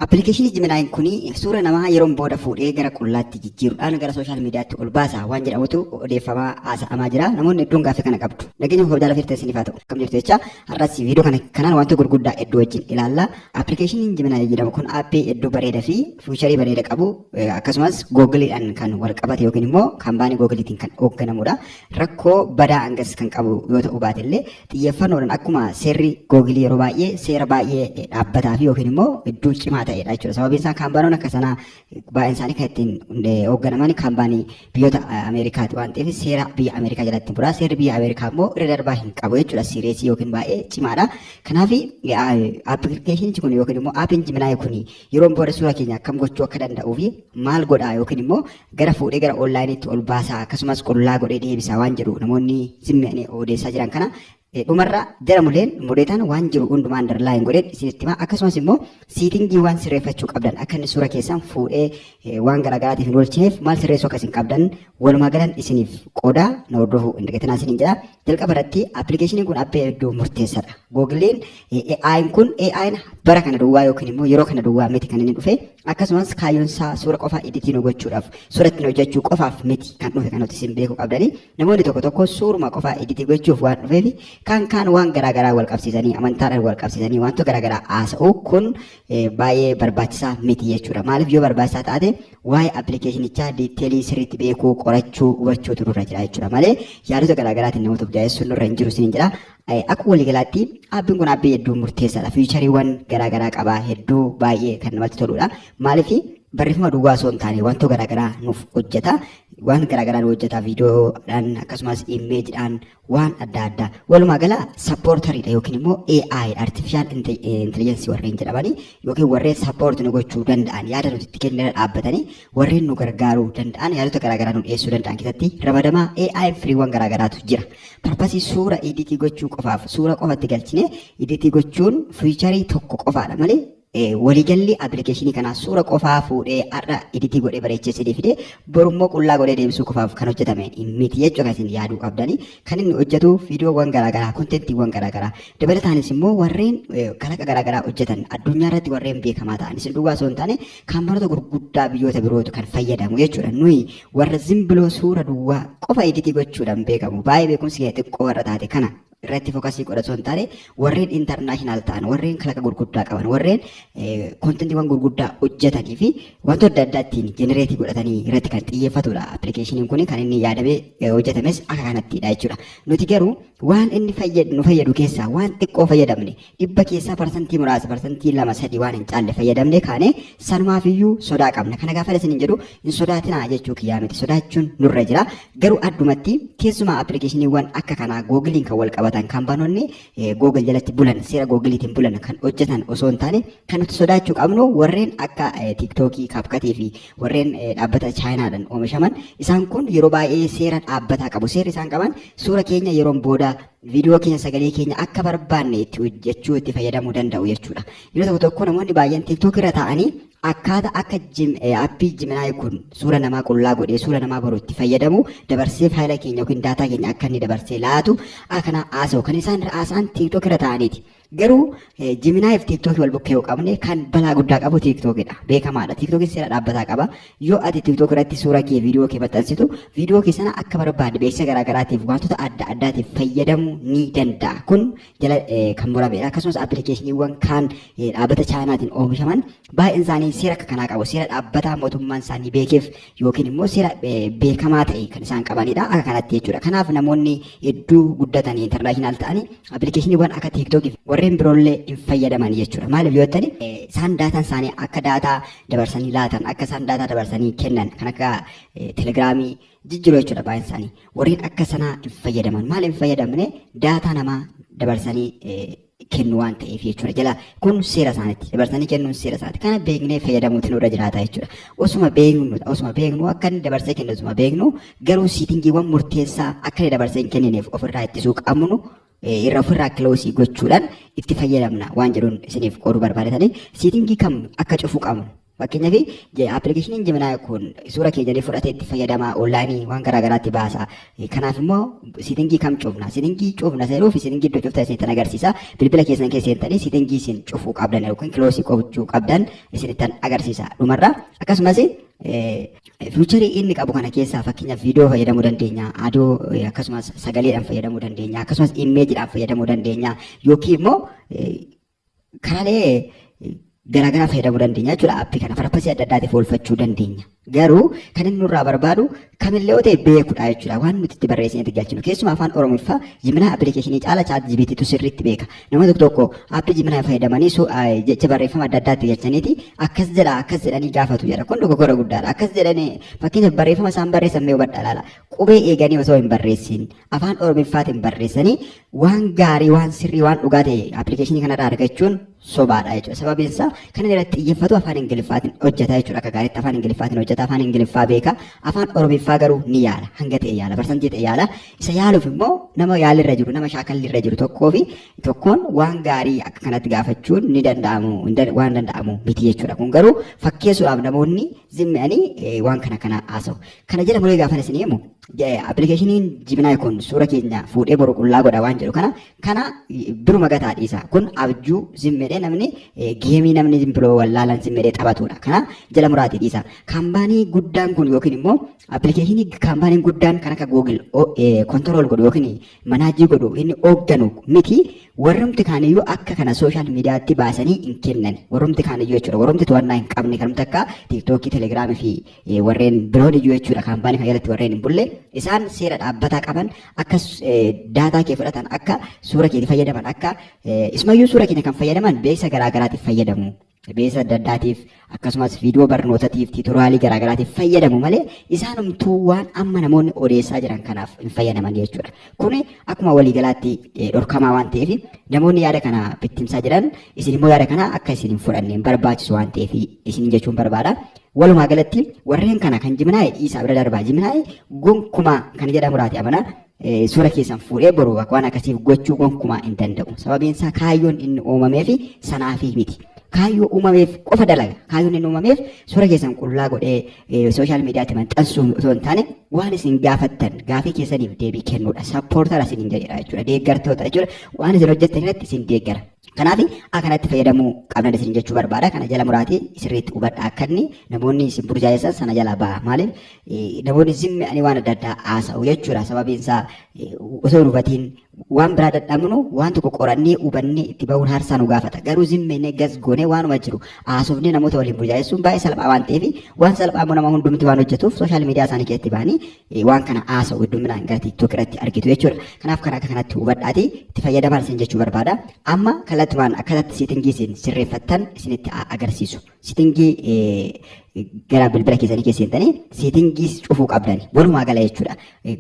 Appilikeeshinii Jiminaayiin kun suura namaa yeroon booda fuudhee gara qullaatti jijjiiruudhaan gara sooshaal miidiyaatti ol baasa waan jedhamutu odeeffamaa haasa'amaa jira. Namoonni hedduun gaaffii kana qabdu. Nageenyi kun kabajaa lafee irratti isiniif haa ta'u. Akkam jirtu jechaa har'as viidiyoo kana kanaan wantoota gurguddaa hedduu wajjin ilaalla. Appilikeeshiniin Jiminaayi jedhamu kun aappii hedduu bareeda fi fiicharii bareeda qabu akkasumas Googiliidhaan kan wal qabate yookiin immoo kampaanii Googiliitiin kan hoogganamuudha. Rakkoo badaa hangas kan qabu yoo ta'uu baate illee xiyyeeffannoodhaan akkuma seerri googilii yeroo baay'ee seera baay'ee eh, dhaabbataa fi yookiin immoo iddoo cimaa ta'edha jechuudha. Sababiin isaa kaampaanoon akka sanaa eh, baay'een isaanii kan ittiin hundee hoogganaman kaampaanii biyyoota eh, Ameerikaati waan ta'eef seera biyya Ameerikaa jalatti bu'aa. Seerri biyya Ameerikaa immoo irra darbaa hin qabu jechuudha. Siireesii yookiin baay'ee cimaadha. Kanaaf appilikeeshinichi kun yookiin immoo aappiin jiminaayi kun yeroon booda suuraa keenya akkam gochuu akka danda'uu fi maal godhaa yookiin immoo gara fuudhee gara onlineetti ol baasaa akkasumas qullaa godhee deebisaa waan jedhu namoonni simmi'anii odeessaa jiran kana eh, dhumarra jara muleen muleetaan waan jiru hundumaa underline godheen isinitti himaa akkasumas immoo siitingii waan sirreeffachuu qabdan akka inni suura keessan fuudhee eh, waan garaagaraatiif hin oolchineef maal sirreessuu akka isin qabdan walumaa galan isiniif qoodaa na hordofuu hin dagatinaa isiniin jedha Jalqaba irratti appilikeeshiniin kun appii hedduu murteessadha. Googiliin AI'n kun AI'n bara kana duwwaa yookiin immoo yeroo kana duwwaa miti kan inni dhufe akkasumas kaayyoon isaa suura qofaa editii nu gochuudhaaf suura ittiin hojjechuu qofaaf miti kan dhufe kan nuti isin beekuu qabdanii namoonni tokko tokko suuruma qofaa editii gochuuf waan dhufeefi kaan kaan waan garaa garaa wal qabsiisanii amantaadhaan wal qabsiisanii wantoota garaa garaa haasa'u kun baay'ee barbaachisaa miti jechuudha maaliif yoo barbaachisaa taate Waa'ee appilikeeshinichaa diitteelii sirriitti beekuu, qorachuu, hubachuutu nurra jira jechuudha malee yaadota garaa garaatiin namoota of jaa'essuun nurra hin jiru isiniin jedha. Eh, Akka waliigalaatti aappiin kun aappii hedduu murteessaadha. Fiichariiwwan garaa garaa qaba. Hedduu baay'ee kan namatti toludha. Maaliif barreeffama duwwaa osoo hin taane wantoota garaa garaa nuuf hojjeta. Waan garaa garaa nu hojjeta viidiyoodhaan akkasumas imeejidhaan waan adda addaa walumaa gala sappoortariidha yookiin immoo AI artificial inte- eh, intelligence warreen jedhamanii yookiin warreen sappoorti nu gochuu danda'an yaada nuti itti kennina dhaabbatanii warreen nu gargaaruu danda'an yaadota garaagaraa nu dhiyeessuu danda'an keessatti ramadamaa AI firiiwwan garaagaraatu jira. Parpasii suura editii gochuu qofaaf suura qofatti galchine editii gochuun fiicharii tokko qofaadha malee Waliigalli application kanaa suura qofaa fuudhee har'a editii godhee bareechee isinii fidee boru immoo qullaa godhee deebisuu qofaaf kan hojjetame miti jechuu kan isin yaaduu qabdani. Kan inni hojjetu viidiyoowwan garaagaraa, kontentiiwwan garaagaraa dabalataanis immoo warreen kalaqa garaagaraa hojjetan addunyaa irratti warreen beekamaa ta'an isin duwwaa osoo hin taane kaampaanota gurguddaa biyyoota birootu kan fayyadamu jechuudha. Nuyi warra zimbiloo suura duwwaa qofa editii gochuudhaan beekamu baay'ee beekumsi kee xiqqoo warra taate kana irratti fokasii godha osoo hin taane warreen intarnaashinaal ta'an warreen kalaqa gurguddaa qaban warreen kontentiiwwan gurguddaa hojjetanii fi wantoota adda addaa ittiin jenereetii godhatanii irratti kan xiyyeeffatudha appilikeeshiniin kun kan inni yaadamee hojjetames akka kanattidha jechuudha nuti garuu waan inni nu fayyadu keessaa waan xiqqoo fayyadamne dhibba keessaa parsantii muraasa parsantii lama sadii waan hin caalle fayyadamne kaane sanumaaf iyyuu sodaa qabna kana gaafa isin hin jedhu hin sodaatinaa jechuu kiyyaa miti sodaachuun nurra jira garuu addumatti keessumaa appilikeeshiniiwwan akka kanaa googiliin kan wal qabatan kan banoonni googil jalatti bulan seera googiliitiin bulan kan hojjetan osoo hin taane kan nuti sodaachuu qabnu warreen akka tiiktookii kaapkatii fi warreen dhaabbata chaayinaadhaan oomishaman isaan kun yeroo baay'ee seera dhaabbataa qabu seerri isaan qaban suura keenya yeroon booda viidiyoo keenya sagalee keenya akka barbaanne itti hojjechuu itti fayyadamuu danda'u jechuudha. Yeroo tokko tokko namoonni baay'een TikTok irra taa'anii akkaata akka appii jiminaayi kun suura namaa qullaa godhee suura namaa boru itti fayyadamu dabarsee faayila keenya yookiin daataa keenya akka inni dabarsee laatu akana haasa'u kan isaan irra haasa'an TikTok irra taa'aniiti. Garuu Jiminaayi fi TikTok wal bukkee yoo qabne kan balaa guddaa qabu TikTok dha. Beekamaadha. TikTok seera dhaabbataa qaba. Yoo ati TikTok irratti suura kee viidiyoo kee maxxansitu viidiyoo kee sana akka barbaadde beeksisa garaa garaatiif wantoota adda addaatiif fayyadamuu ni danda'a. Kun jala kan muramedha. Akkasumas appilikeeshiniiwwan kaan dhaabbata Chaayinaatiin oomishaman Baay'een isaanii seera akka kanaa qabu. Seera dhaabbataa mootummaan isaanii beekeef yookiin immoo seera eh, beekamaa ta'e kan isaan qabanidha. Akka kanatti jechuudha. Kanaaf namoonni hedduu guddatanii intarnaashinaal ta'anii appilikeeshiniiwwan akka TikTok fi warreen biroollee hin fayyadaman jechuudha. Maaliif yoo ta'ani eh, isaan daataan isaanii akka daataa dabarsanii laatan, akka isaan daataa dabarsanii kennan kan akka eh, telegiraamii jijjiiruu jechuudha baay'een isaanii. Warreen akka sanaa hin fayyadaman. Maaliif hin fayyadamne daataa namaa dabarsanii eh, kennu waan ta'eef jechuudha jala kun seera isaanitti dabarsanii kennuun seera isaati kana beeknee fayyadamuutu nurra jiraata jechuudha osuma beeknu osuma beeknu akka inni dabarsee kennu osuma beeknu garuu siitingiiwwan murteessaa akka inni dabarsee hin kennineef ofirraa ittisuu qabnu irra ofirraa kiloosii gochuudhaan itti fayyadamna waan jedhuun isiniif qooduu barbaadanii siitingii kam akka cufuu qabnu Fakkeenyaaf appilikeeshiniin Gemini kun suura keenya ni fudhatee itti fayyadama onlaayinii waan garaa garaatti baasa. Kanaaf immoo sitingii kam cufna? Sitingii cufna seenuu fi sitingii iddoo cuftan isinittan agarsiisa. Bilbila keessan keessa seentanii sitingii isin cufuu qabdan yookiin kiloosii gochuu qabdan isinittan agarsiisa dhumarra. Akkasumas fiicharii inni qabu kana keessaa fakkeenyaaf viidiyoo fayyadamuu dandeenya, adoo akkasumas sagaleedhaan fayyadamuu dandeenya, akkasumas imeejiidhaan fayyadamuu dandeenya yookiin immoo Karaalee garaagaraa fayyadamuu dandeenya jechuudha. Appii kana farpasii adda addaatiif oolfachuu dandeenya. Garuu kan inni nurraa barbaadu kamillee yoo ta'e beekudha jechuudha. Waan nuti itti barreessinee itti galchinu. Keessumaa afaan Oromiffaa Jiminaa appilikeeshinii caala chaat jibiitiitu sirriitti beeka. Nama tokko tokko appii Jiminaa fayyadamanii su- ah, jecha barreeffama adda addaa itti galchaniiti akkas jedha akkas jedhanii gaafatu jedha. Kun dogoggora guddaadha. Akkas jedhanii fakkeenyaaf barreeffama isaan barreessan mee hubadhaa ilaala. Qubee eeganii osoo hin barreessin afaan oromiffaatiin barreessanii waan gaarii waan sirrii waan dhugaa ta'e appilikeeshinii kanarraa argachuun sobaadha jechuudha. Sababiin isaa kanan irratti xiyyeeffatu afaan ingiliffaatiin hojjetaa jechuudha akka gaariitti afaan ingiliffaatiin hojjeta afaan ingiliffaa beeka afaan oromiffaa garuu ni yaala hanga ta'e yaala parsantii ta'e yaala isa yaaluuf immoo nama yaalirra jiru nama shaakalli irra jiru tokkoo fi tokkoon waan gaarii akka kanatti gaafachuun ni danda'amu hin dan- waan danda'amu miti jechuudha kun garuu fakkeessuudhaaf namoonni zimmi'anii eh, waan kana kana haasa'u kana jala muree gaafan isin himu Appilikeeshiniin Jibinaay kun suura keenya fuudhee boru qullaa godha waan jedhu kana kana biruma gataa dhiisa. Kun abjuu zimmedhee namni geemii namni zimbiroo wallaalan zimmedhee taphatudha. Kana jala muraatii dhiisa. Kaambaanii guddaan kun yookiin immoo appilikeeshinii kaambaaniin guddaan kan akka Google kontirool godhu yookiin manaajii godhu inni hoogganu miti. Warrumti kaaniyyuu akka kana sooshaal miidiyaatti baasanii hin kennan. Warrumti kaaniyyuu jechuudha. Warrumti to'annaa hin qabne kanumti akka tiiktookii, telegiraamii fi eh, warreen biroon iyyuu jechuudha kaampaanii kana jalatti warreen hin bulle isaan seera dhaabbataa qaban akka s- eh, daataa kee fudhatan akka suura keetti fayyadaman akka eh, isumayyuu suura keenya kan fayyadaman beeksisa garaagaraatiif fayyadamu beeksisa adda addaatiif akkasumas viidiyoo barnootatiif tiitoraalii garaagaraatiif fayyadamu malee isaanumtuu waan amma namoonni odeessaa jiran kanaaf hin fayyadaman jechuudha kun akkuma waliigalaatti eh, dhorkamaa waan ta'eef namoonni yaada kana bittimsaa jiran isin immoo yaada kana akka isin hin fudhanne hin barbaachisu waan ta'eef isin jechuun barbaada Walumaa galatti warreen kana kan jiminaa'e dhiisaa bira darbaa jiminaa'e gonkumaa kan jedha muraati amana eh, suura keessan fuudhee boru bakka waan akkasiif gochuu gonkumaa hin danda'u. Sababiin isaa kaayyoon inni uumameef sanaafi miti. Kaayyoo uumameef qofa dalaga. Kaayyoon inni uumameef suura keessan qullaa godhee eh, sooshaal miidiyaatti maxxansuu osoo hin taane waan isin gaafattan gaafii keessaniif deebii kennuudha. Sappoortara isin hin jedhedha jechuudha. Deeggartoota jechuudha. Waan isin hojjettan irratti isin deeggara. Kanaaf akanatti fayyadamuu qabna isin jechuu barbaada. Kana jala muraatii sirriitti hubadha akka inni namoonni isin burjaajessan sana jala ba'a. Maaliif namoonni zimmi ani waan adda addaa haasa'u jechuudha. Sababiin isaa osoo hin hubatiin waan biraa dadhabnu waan tokko qorannee hubannee itti bahuun haarsaa nu gaafata. Garuu zimmi inni gas goonee waanuma jiru haasofnee namoota waliin burjaajessuun baay'ee salphaa waan ta'eef waan salphaa immoo nama hundumti waan hojjetuuf sooshaal miidiyaa isaanii keessatti ba'anii waan kana haasa'u hedduminaan gara TikTok irratti argitu jechuudha. Kanaaf kan akka kanatti hubadhaati itti fayyadamaa isin jechuu barbaada. Amma kallattumaan akkatatti seetingii isin sirreeffattan isinitti haa agarsiisu. Seetingii gara bilbila keessanii keessa seentanii seetingii cufuu qabdani. Walumaa gala jechuudha.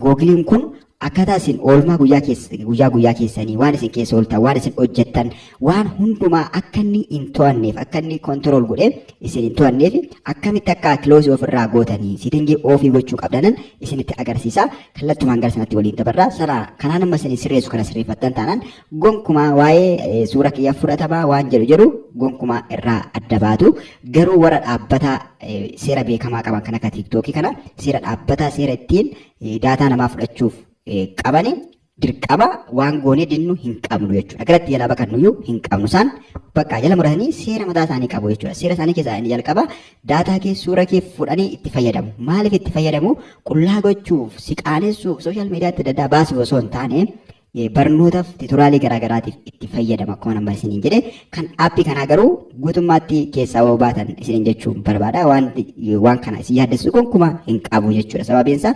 Googiliin kun akkaataa isin oolmaa guyyaa keessa guyyaa guyyaa keessanii waan isin keessa ooltan waan isin hojjettan waan hundumaa akka inni hin to'anneef akka inni control godhee isin hin to'anneef akkamitti akka close of irraa gootanii sittingii off gochuu qabdanan isinitti agarsiisa kallattumaan gara sanatti waliin dabarra sana kanaan amma isin sirreessu kana sirreeffattan taanaan gonkumaa waa'ee suura kiyya fudhatamaa waan jedhu jedhu gonkumaa irraa adda baatu garuu warra dhaabbataa seera beekamaa qaban kan akka tiiktookii kana seera dhaabbataa seera ittiin daataa namaa fudhachuuf qabani dirqama waan goonee dinnu hin qabnu jechuudha. Garatti jalaa bakannuyyuu hin qabnu. Isaan bakka jala muratanii seera mataa isaanii qabu jechuudha. Seera isaanii keessaa inni jalqaba daataa kee suura kee fudhanii itti fayyadamu. Maaliif itti fayyadamu? Qullaa gochuuf, si qaanessuuf, sooshaal miidiyaatti adda addaa baasuuf osoo hin taane barnootaaf titoraalii garaagaraatiif itti fayyadama akkuma nama isiniin jedhe kan aappii kanaa garuu guutummaatti keessaa yoo baatan isiniin jechuun barbaada wanti waan kana isin yaaddessu gonkumaa hin qabu jechuudha sababiin isaa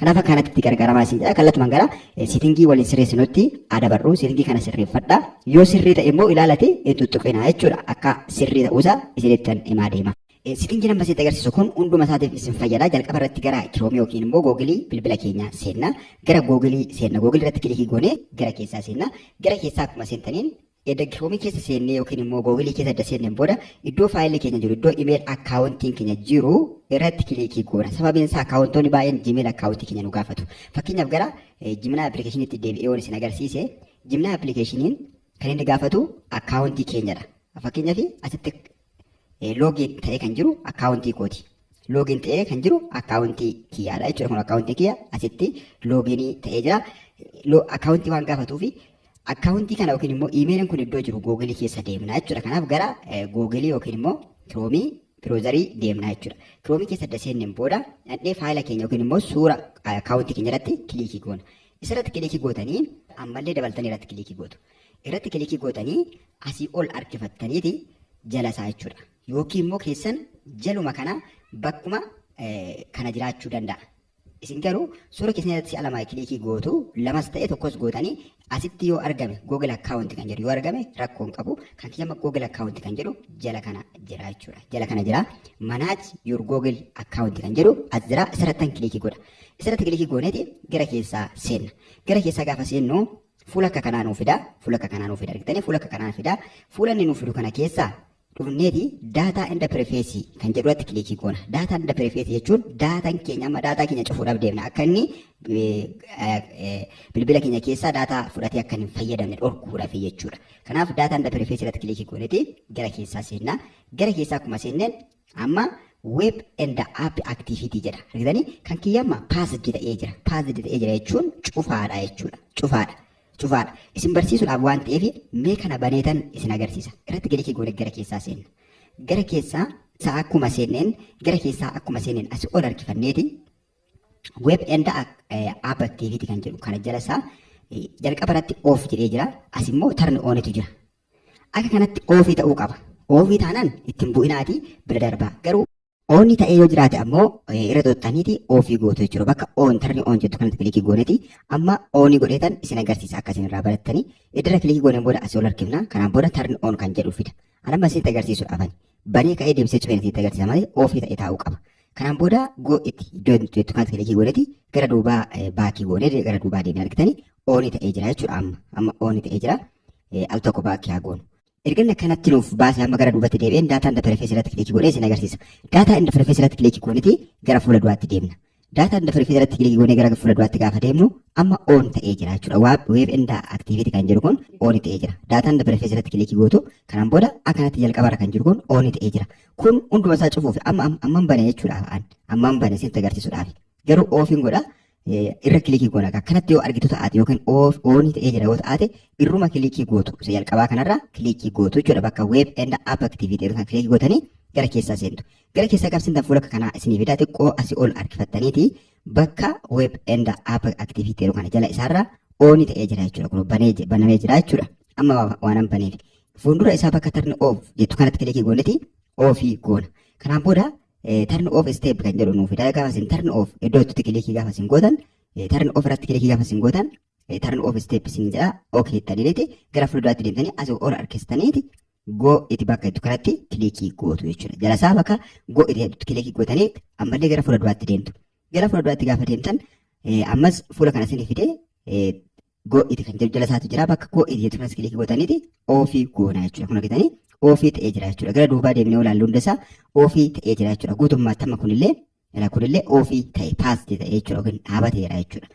Kanaaf akka kanatti itti gargaaramaa isin jedha. Kallattumaan gara seetingii waliin sirreessinutti haa dabarru. Seetingii kana sirreeffadha. Yoo sirrii ta'e immoo ilaalati hin tuttuqinaa jechuudha. Akka sirrii ta'uusaa isinittan himaa deema. Seetingiin amma isinitti agarsiisu kun hunduma isaatiif isin fayyada. Jalqaba irratti gara Chrome yookiin immoo Google bilbila keenya seenna. Gara Google seenna. Google irratti kilikii goonee gara keessaa seenna. Gara keessaa akkuma seentaniin Edda Chrome keessa seennee yookiin immoo Google keessa edda seenneen booda iddoo faayilli keenya jiru iddoo email akkaawuntiin keenya jiru irratti kiliikii goona. Sababiin isaa akkaawuntoonni baay'een Gmail akkaawuntii keenya nu gaafatu. Fakkeenyaaf gara Gmail appilikeeshiniitti deebi'ee waan isin agarsiise Gmail appilikeeshiniin kan inni gaafatu akkaawuntii keenyadha. Fakkeenyaaf asitti loogiin ta'ee kan jiru akkaawuntii kooti. Loogiin ta'ee kan jiru akkaawuntii kiyyaadha jechuudha. Kun akkaawuntii kiyya asitti loogiin ta'ee jira. Akkaawuntii waan gaafatuuf akkaawuntii kana yookiin immoo iimeeliin kun iddoo jiru googilii keessa deemna jechuudha. Kanaaf gara googilii yookiin immoo kiroomii biroozarii deemna jechuudha. Kiroomii keessa erga seenneen booda dhaqnee faayila keenya yookiin immoo suura akkaawuntii keenya irratti kiliikii goona. Isarratti kiliikii gootanii ammallee dabaltanii irratti kiliikii gootu. irratti kilikii gootanii asii ol harkifattaniiti jala isaa jechuudha. Yookiin immoo keessan jaluma kana bakkuma kana jiraachuu danda'a. Isin garuu suura keessan irratti si'a lama kilikii gootu lamas ta'e tokkos gootanii asitti yoo argame Google account kan jedhu yoo argame rakkoo hin qabu. Kan kiyya Google account kan jedhu jala kana jira jechuudha. Jala kana jira. Manage your Google account kan jedhu as jira. Isarrattan kilikii godha. Isarratti kilikii gooneeti gara keessaa seenna. Gara keessaa gaafa seennu Fuula akka kanaa nuu fidaa, fuula akka kanaa nuu fidaa argitanii fuula akka kanaa fidaa. Fuula inni nuu fidu kana keessaa dhufneeti data and privacy kan jedhu irratti kilikii goona. Data and privacy jechuun daataan keenya amma daataa keenya cufuudhaaf deemna akka inni bilbila keenya keessaa daataa fudhatee akka hin fayyadamne dhorkuudhaaf jechuudha. Kanaaf data and privacy irratti kilikii gooneeti gara keessaa seenna. Gara keessaa akkuma seenneen Amma web and app activity jedha. Argitanii kan kiyya amma passed ta'ee jira. Passed ta'ee jira jechuun cufaadha jechuudha. Cufaadha. Cufaadha. Isin barsiisuudhaaf waan ta'eef mee kana baneetan isin agarsiisa. Irratti kilikii goone gara keessaa seenna. Gara keessaa isaa akkuma seenneen gara keessaa akkuma seenneen asii ol harkifanneeti web and app activity kan jedhu kana jala isaa jalqaba irratti off jedhee jira. As immoo turn ontu jira. Akka kanatti oofii ta'uu qaba. Oofii taanaan itti hin bu'inaati bira darbaa. Garuu oonni ta'ee yoo jiraate ammoo eh, irra xuxxaniiti oofii gootu jechuudha. Bakka oon tarni oon jettu kanatti kilikii gooneti amma oonii godheetan isin agarsiisa akka isin irraa barattanii. Iddirra kilikii gooneen booda asii ol harkifna. Kanaan booda tarni oon kan jedhu fida. An amma isinitti agarsiisuudhaaf ani banee ka'ee deebisee cufeen isinitti agarsiisa malee oofii ta'ee taa'uu qaba. Kanaan booda go itti iddoo jettu kanatti kilikii gooneti gara duubaa eh, baakii goonee gara duubaa deemnee argitanii oonii ta'ee jira jechuudha amma. Amma oonii ta'ee jira. eh, al tokko baakki haa goonu. Erga inni akkanatti nuuf baase amma gara duubatti deebi'een daataa interfeesii irratti kilikii godhee isin agarsiisa. Daataa interfeesii irratti kilikii gooniti gara fuula duraatti deemna. Daataa interfeesii irratti kilikii goonee gara fuula duraatti gaafa deemnu amma oon ta'ee jira jechuudha. Waab weeb inda aktiiviti kan jiru kun ooni ta'ee jira. Daataa interfeesii irratti kilikii gootu kanaan booda akkanatti jalqaba irra kan jiru kun ooni ta'ee jira. Kun hunduma isaa cufuuf amma amma hin bane jechuudha. Amman bane isinitti agarsiisuudhaaf. Garuu oofiin godha Eh, irra kilikii goona akka kanatti yoo argitu ta'aate yookiin off oonii ta'ee jira yoo ta'aate irruma kilikii gootu isa jalqabaa kanarraa kilikii gootu jechuudha bakka web and app activity jedhu kan kilikii gootanii gara keessaa seentu gara keessaa gaafa seentan fuula akka kanaa isinii fidaa xiqqoo asii ol harkifattaniiti bakka web and app activity jedhu kana jala isaarraa oonii ta'ee jira jechuudha kun banee je- banamee jira jechuudha amma waa- waanan baneef fuuldura isaa bakka tarni off jettu kanatti kilikii gooniti ofii goona kanaan booda turn off step kan jedhu nuuf fida gaafa isin turn off iddoo jettutti kilikii gaafa isin gootan turn off irratti kilikii gaafa isin gootan turn off step isin jedha ok jettaniiti gara fuulduraatti deemtanii asii ol harkistaniiti go itti bakka jettu kanatti kilikii gootu jechuudha jala isaa bakka go itti jettutti kilikii gootanii ammallee gara fuulduraatti deemtu gara fuulduraatti gaafa deemtan ammas fuula kana isin fidee go iti kan jedhu jala isaatu jira bakka go iti jettu kanas kilikii gootaniiti ofii goona jechuudha kun argitanii ofii ta'ee jira jechuudha gara duubaa deemnee olaallu hunda isaa ofii ta'ee jira jechuudha guutummaatti amma kunillee ila kunillee ofii ta'e paasti ta'e jechuudha yookiin dhaabateera jechuudha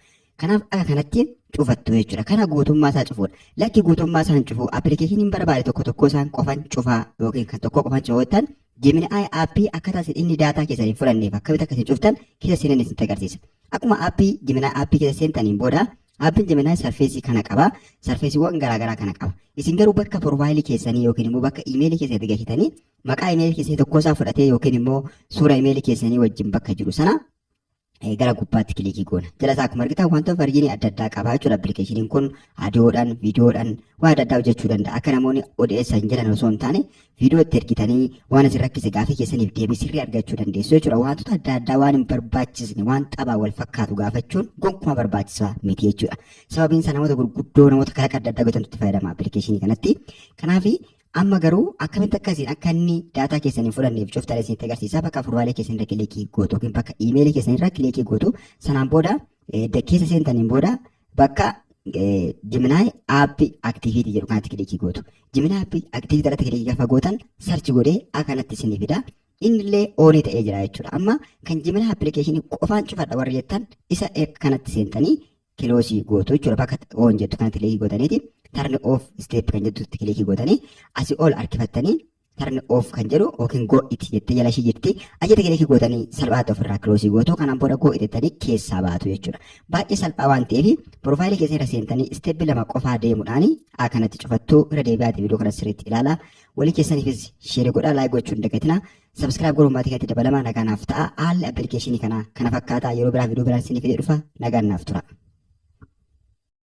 kanaaf akka kanatti cufattu jechuudha kana guutummaa isaa cufuudha lakki guutummaa isaan cufuu appilikeeshiniin barbaade tokko tokko isaan qofan cufaa yookiin kan tokko qofan cufootan Gemini appii akkaataa isin inni daataa keessan hin fudhanneef akkamitti akka isin cuftan keessa seenan isin agarsiisa. Akkuma appii Gemini appii keessa seentaniin booda Appiin Gemini sarfeesii kana qaba. Sarfeesiiwwan garaagaraa kana qaba. Isin garuu bakka porofaayilii keessanii yookiin immoo bakka imeelii keessa itti galchitanii maqaa imeelii keessanii tokkoo isaa fudhatee yookiin immoo suura imeelii keessanii wajjin bakka jiru sana eh, gara gubbaatti kilikii goona. Jala isaa akkuma argitan wantoota farjiinii adda addaa qaba jechuudha. Appilikeeshiniin kun aadiyoodhaan, viidiyoodhaan waan adda addaa hojjechuu danda'a. Akka namoonni odeessan jedhan osoo hin taane Viidiyoo itti ergitanii waan isin rakkise gaafii keessaniif deebii sirrii argachuu dandeessu jechuudha. Waantota adda addaa waan hin barbaachisne waan taphaan wal fakkaatu gaafachuun gonkumaa barbaachisaa miti jechuudha. Sababiin isaa namoota gurguddoo namoota kalaqa adda addaa beekantu itti fayyadama appilikeeshinii kanatti. Kanaaf amma garuu akkamitti akka isin akka inni daataa keessan hin fudhanneef cuftan isinitti agarsiisa. Bakka furraalee keessan irra kilikii gootu yookiin bakka iimeelii keessan irra kilikii gootu sanaan booda edda keessa seentaniin booda bakka Gemini app activity jedhu kanatti kilikii gootu. Gemini app activity irratti kilikii gaafa gootan search godhee akkanatti isin fida. Innillee oonii ta'ee jira jechuudha. Amma kan Gemini application qofaan cufadha warri jettan isa kanatti seentanii kiloosii gootu jechuudha. Bakka oon jettu kanatti kilikii gootaniiti. Tarn off step kan jettutti kilikii gootanii asii ol harkifattanii turn off kan jedhu yookiin go it jettee jala ishii jirti achitti kilikii gootanii salphaatti ofirraa kiloosii gootu kanaan booda go it jettanii keessaa baatu jechuudha baay'ee salphaa waan ta'eef piroofaayilii keessa irra seentanii isteeppi lama qofaa deemuudhaan akkanatti cufattuu irra deebi'aati viidiyoo kana sirriitti ilaala walii keessaniifis sheeri godhaa laayik gochuun dagatina sabskiraayib godhuun maatii kanatti dabalama nagaa naaf ta'a haalli appilikeeshinii kana kana fakkaata yeroo biraa viidiyoo biraan isiniif fidee dhufa nagaan naaf tura.